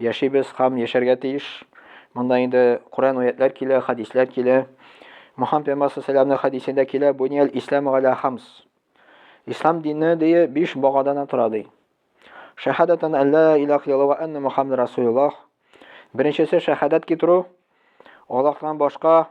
Яшибез һәм яшәргә тиеш. Монда инде Коръән аятьләр килә, хәдисләр килә. Мөхәммәд пәйгамбәр сәламнең хәдисендә килә, Бунияль ислам галя хамс. Ислам дине ди биш багадан тора ди. Шәһадәтән әллә илах илла ва анна Мухаммад расулуллах. Беренчесе шәһадәт китерү. Аллаһтан башка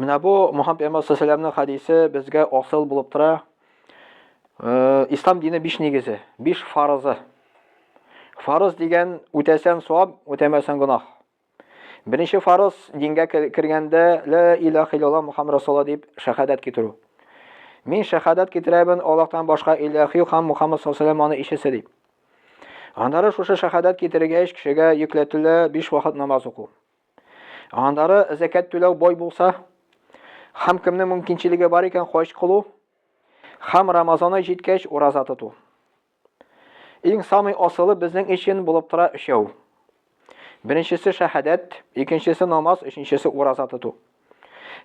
Менә бу Мухаммад пәйгамбәр саллаллаху хәдисе безгә асыл булып тора. Э, ислам дине биш нигезе, биш фарызы. Фарыз дигән үтәсән савап, үтәмәсән гөнаһ. Беренче фарыз дингә кергәндә ла илаһ иллаллаһ Мухаммад расулла дип шәһадәт китерү. Мин шәһадәт китерәбен Аллаһтан башка илаһ юк һәм Мухаммад саллаллаху алейһи ишесе дип. Аннары шушы шәһадәт китергәч кешегә йөкләтелә биш вакыт намаз уку. Аннары зәкәт түләү бой булса, хам кемнең мөмкинчелеге бар икән хаҗ кылу, хам Рамазан ай җиткәч ураза тоту. Иң самый асылы безнең өчен булып тора өчәү. Беренчесе шәһадәт, икенчесе намаз, өченчесе ураза тоту.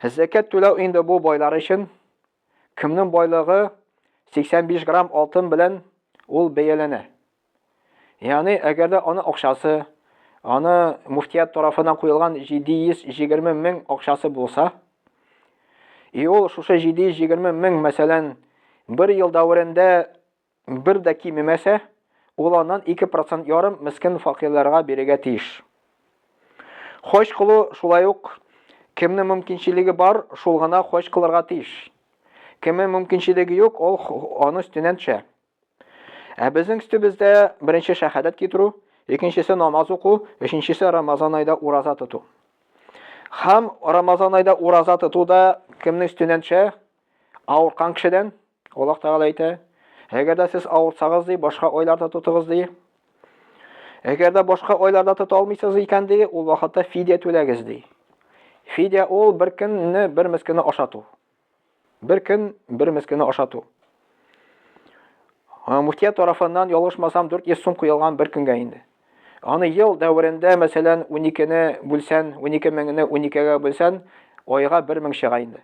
Зәкәт түләү инде бу байлар өчен, Кемнең байлыгы 85 грамм алтын белән ул бәяләнә. Ягъни, әгәр дә аны акчасы, аны муфтият тарафынан куелган 720 мең акчасы булса, и ул шушы 720 мең, мәсәлән, бер ел дәверендә Бер дә кимемәсә, ул аннан ике процент ярым мескен факирларга бирергә тиеш. Хаҗ кылу шулай ук кемнең мөмкинчелеге бар, шул гына хаҗ кылырга тиеш. Кемнең мөмкинчелеге юк, ул аны өстеннән төшә. Ә безнең өстебездә беренче шәһадәт китерү, икенчесе намаз уку, өченчесе Рамазан айда ураза тоту. Хам Рамазан айда ураза тоту да кемнең өстеннән төшә? Авыркан кешедән. Аллаһ Тәгалә әйтә, әгәр дә сез авырсагыз ди, башка айларда тотыгыз ди. Әгәр дә башка айларда тота алмыйсыз икән ди, ул вакытта фидия түләгез ди. Фидия ул бер көнне бер мескене ашату. Бер көн бер мескене ашату. Муфтия тарафыннан ялгышмасам 400 сум куелган бер көнгә инде. Аны ел дәверендә, мәсәлән, 12-не бүлсән, 12 меңне 12-гә бүлсән, айга 1000 чыга инде.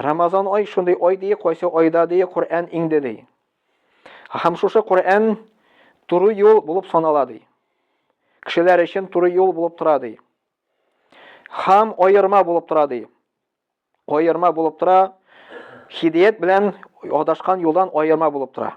Рамазан ай шундый ай ди, кайсы айда ди, Коръән иңде ди. Һәм шушы Коръән туры юл булып санала ди. Кешеләр өчен туры юл булып тора ди. Һәм аерма булып тора ди. Аерма булып тора, хидият белән адашкан юлдан аерма булып тора.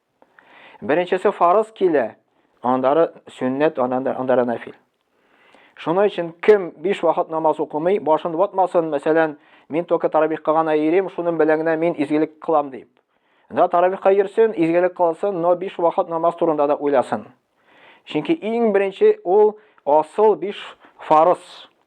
Беренчесе фарыз килә, андары сөннәт, андары нәфил. Шуның өчен кем биш вакыт намаз укымый, башын ватмасын, мәсәлән, мин только тарабихка гына йөрим, шуның белән генә мин изгелек кылам дип. Да тарабихка йөрсен, изгелек кылсын, но биш вакыт намаз турында да уйласын. Чөнки иң беренче ул асыл биш фарыз.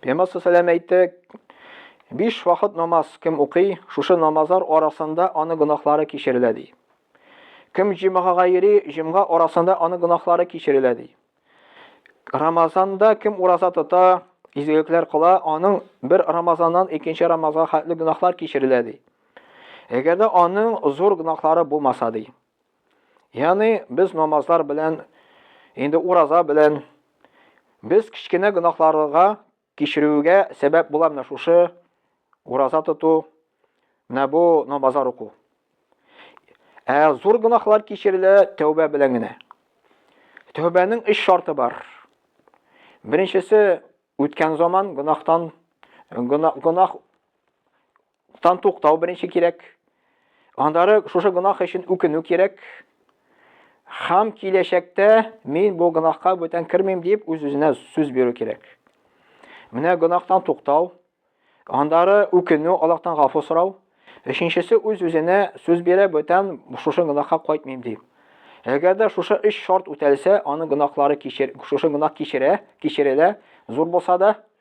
Пемасы сәләм әйтте. Биш вакыт намаз кем укый, шушы намазлар арасында аны гонахлары кичерелә ди. Кем җимгага йөри, җимга арасында аны гонахлары кичерелә ди. Рамазанда кем ураза тота, изгелекләр кыла, аның бер Рамазаннан икенче Рамазанга хәтле гонахлар кичерелә ди. Әгәр дә аның зур гонахлары булмаса ди. Яни без намазлар белән, инде ураза белән, без кечкенә гынахларыга кичерүгә сәбәп була менә шушы ураза тоту, менә бу намазлар уку. Ә зур гынахлар кичерелә тәүбә белән генә. Тәүбәнең өч шарты бар. Беренчесе үткән заман гынахтан гынах Тан туктау беренче кирәк. Аннары шушы гөнаһ өчен үкенү кирәк. Хам киләчәктә мин бу гөнаһка бүтән кермим дип үз-үзенә сүз бирү кирәк. Менә гөнаһтан туктау, аннары үкенү, Аллаһтан гафу сорау. Өченчесе үз-үзенә сүз бирә, бүтән шушы гөнаһка кайтмыйм дип. Әгәр дә шушы өч шарт үтәлсә, аның гөнаһлары кичер, шушы гөнаһ кичерә, кичерелә, зур булса да,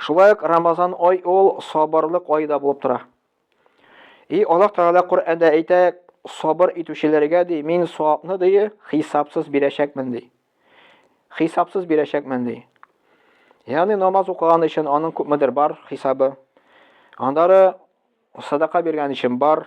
Шулай ук Рамазан ай ул сабырлык ае да булып тора. И Аллаһ Тәгалә Коръәндә әйтә, сабыр итүчеләргә ди, мин савапны ди, хисапсыз бирәчәкмен ди. Хисапсыз бирәчәкмен ди. Ягъни намаз укыган өчен аның күпмедер бар хисабы. Андары садака биргән өчен бар,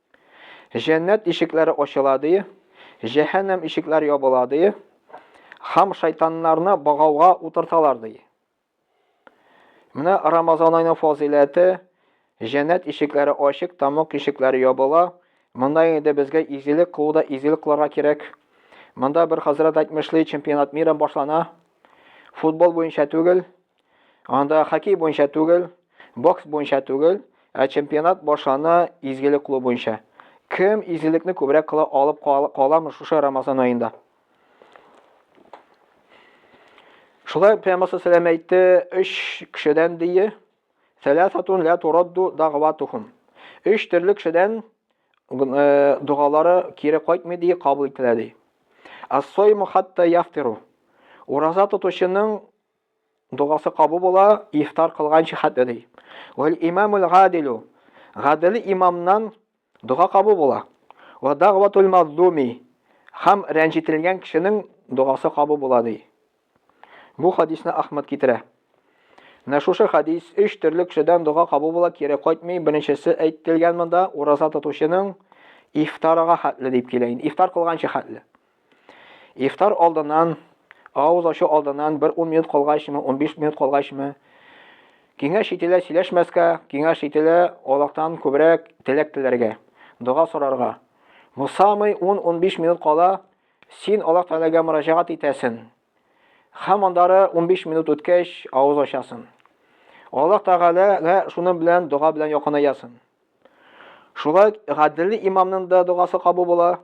Җәннәт ишекләре ачыла, ди, җәһәннәм ишекләр ябыла, ди, һәм шайтаннарны багауга утырталар, ди. Менә Рамазан айының фазыйләте, җәннәт ишекләре ачык, тамак ишекләре ябыла. Монда инде безгә изгелек кылуда изгелек кылырга кирәк. Монда бер хәзрәт әйтмешли, чемпионат мира башлана. Футбол буенча түгел, Анда хоккей буенча түгел, бокс буенча түгел, ә чемпионат башлана изгелек кылу буенча. Кем изгелекне күбрәк кыла алып каламы шушы Рамазан аенда? Шулай прямасы сәлам әйтте өч кешедән дие. Сәләсатун лә турадду дагватухум. Өч төрле кешедән э, догалары кире кайтмый дие, кабул ителә ди. Ассойму хатта яфтиру. Ураза тотучының Дугасы кабу була, ифтар кылганчы хәтле ди. Вәл имамул гадилу. Гадил имамнан дуга кабу була. Ва дагъватул мазлуми. Хам рәнҗителгән кешенең дугасы кабу була ди. Бу хадисны Ахмад китерә. Менә шушы хадис өч төрле кешедән дога кабул була, кире кайтмый. Беренчесе әйтелгән монда, ураза тотучының ифтарга хәтле дип килә инде. Ифтар кылганчы хәтле. Ифтар алдыннан, авыз ачу алдыннан бер ун минут калгачмы, унбиш минут калгачмы, киңәш ителә сөйләшмәскә, киңәш ителә Аллаһтан күбрәк теләк теләргә, дога сорарга. Бу самый ун-унбиш минут кала, син Аллаһ Тәгаләгә мөрәҗәгать итәсен. Һәм андары унбиш минут үткәч, авыз ачасын. Аллаһ Тәгаләгә шуның белән дога белән якынаясың. Шулай гаделле имамның да догасы кабул була,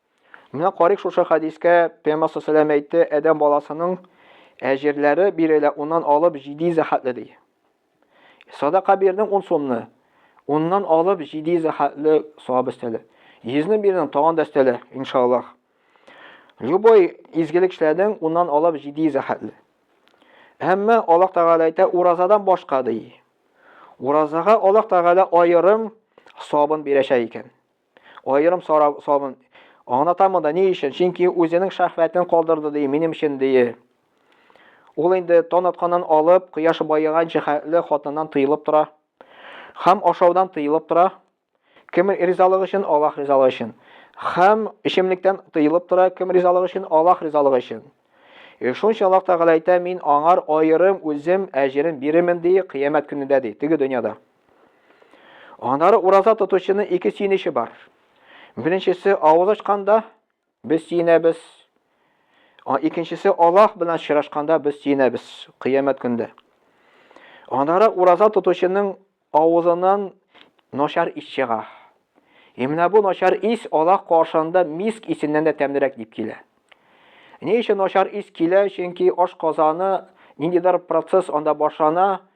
Менә карыйк шушы хәдискә, Пәйгамбәр сәләм әйтте, Адәм баласының әҗерләре бирелә, уннан алып җиди зәхәтле ди. Садака бирдең ун сумны, уннан алып җиди зәхәтле савап өстәле. Йөзне бирдең, тагын да өстәле, иншаллах. Любой изгелек эшләдең, уннан алып җиди зәхәтле. Әмма Аллаһ Тәгалә әйтә, уразадан башка ди. Уразага Аллаһ Тәгалә аерым сабын бирәчәк икән. Аерым сорау салын. Аңлатам монда ни өчен? Чөнки үзенең шәхвәтен калдырды ди, минем өчен ди. Ул инде тон атканнан алып, кояш баеганча хәтле хатыннан тыелып тора. Хәм ашаудан тыелып тора. Кем ризалыгы өчен? Аллаһ ризалыгы өчен. Хәм эчемлектән тыелып тора. Кем ризалыгы өчен? Аллаһ ризалыгы өчен. Э, шунча Аллаһ Тәгалә әйтә, мин аңар аерым үзем әҗерен бирермен ди, кыямәт көнендә ди, теге дөньяда. Аннары ураза тотучының ике сөенече бар. Беренчесе авыз ачканда без сөенәбез. Икенчесе Аллаһ белән очрашканда без сөенәбез кыямәт көндә. Аннары ураза тотучының авызыннан начар ис чыга. Ә менә бу начар ис Аллаһ каршында миск исеннән дә тәмлерәк дип килә. Ни өчен начар ис килә? Чөнки аш казаны ниндидер процесс анда башлана,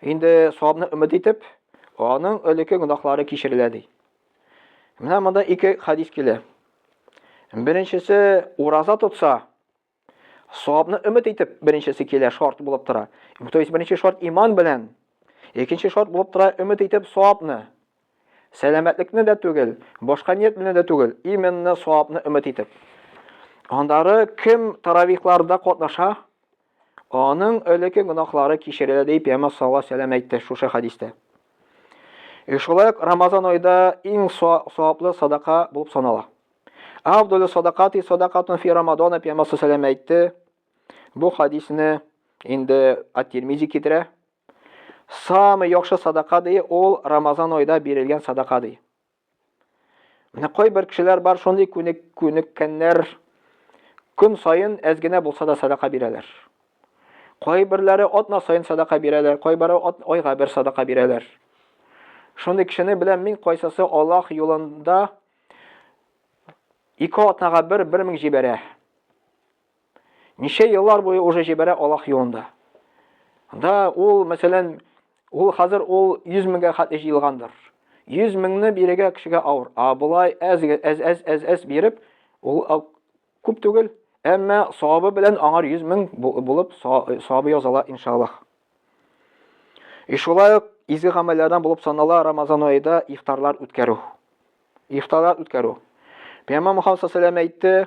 Инде савабны өмет итеп, аның элекке гөнаһлары кичерелә ди. Менә монда ике хадис килә. Беренчесе ураза тотса, савабны өмет итеп, беренчесе килә, шарт булып тора. То есть беренче шарт иман белән, икенче шарт булып тора өмет итеп савабны. Сәламәтлекне дә түгел, башка ният белән дә түгел, именно савабны өмет итеп. Андары кем таравихларда катнаша, Аның элеке гөнаһлары кичерелә, дип Пәйгамбәр саллаллаһу алейһи вәсәлләм әйтте шушы хәдистә. Э, шулай ук Рамазан айда иң саваплы садака булып санала. Авдулю садакати садакатун фи Рамадана Пәйгамбәр саллаллаһу алейһи вәсәлләм әйтте. Бу хадисне инде Ат-Тирмизи китерә. Самый яхшы садака ди, ул Рамазан айда бирелгән садака ди. Менә кайбер кешеләр бар, шундый күнек, күнеккәннәр, көн саен әз генә булса да садака бирәләр. Кайберләре атна саен садака бирәләр, кайбары айга бер садака бирәләр. Шундый кешене беләм мин, кайсысы Аллаһ юлында ике атнага бер 1000 җибәрә. Ничә еллар буе уже җибәрә Аллаһ юлында. Да ул, мәсәлән, ул хәзер ул 100 меңгә хәтле җыелгандыр. 100 меңне бирегә кешегә авыр. А болай әз әз әз әз әз биреп, ул күп түгел, әмма савабы белән аңар 100 мең булып савабы языла иншаллаһ. И шулай ук изге гамәлләрдән булып санала Рамазан аенда ифтарлар үткәрү. Ифтарлар үткәрү. Пәйгамбәр Мөхәммәд саллаллаху әйтте,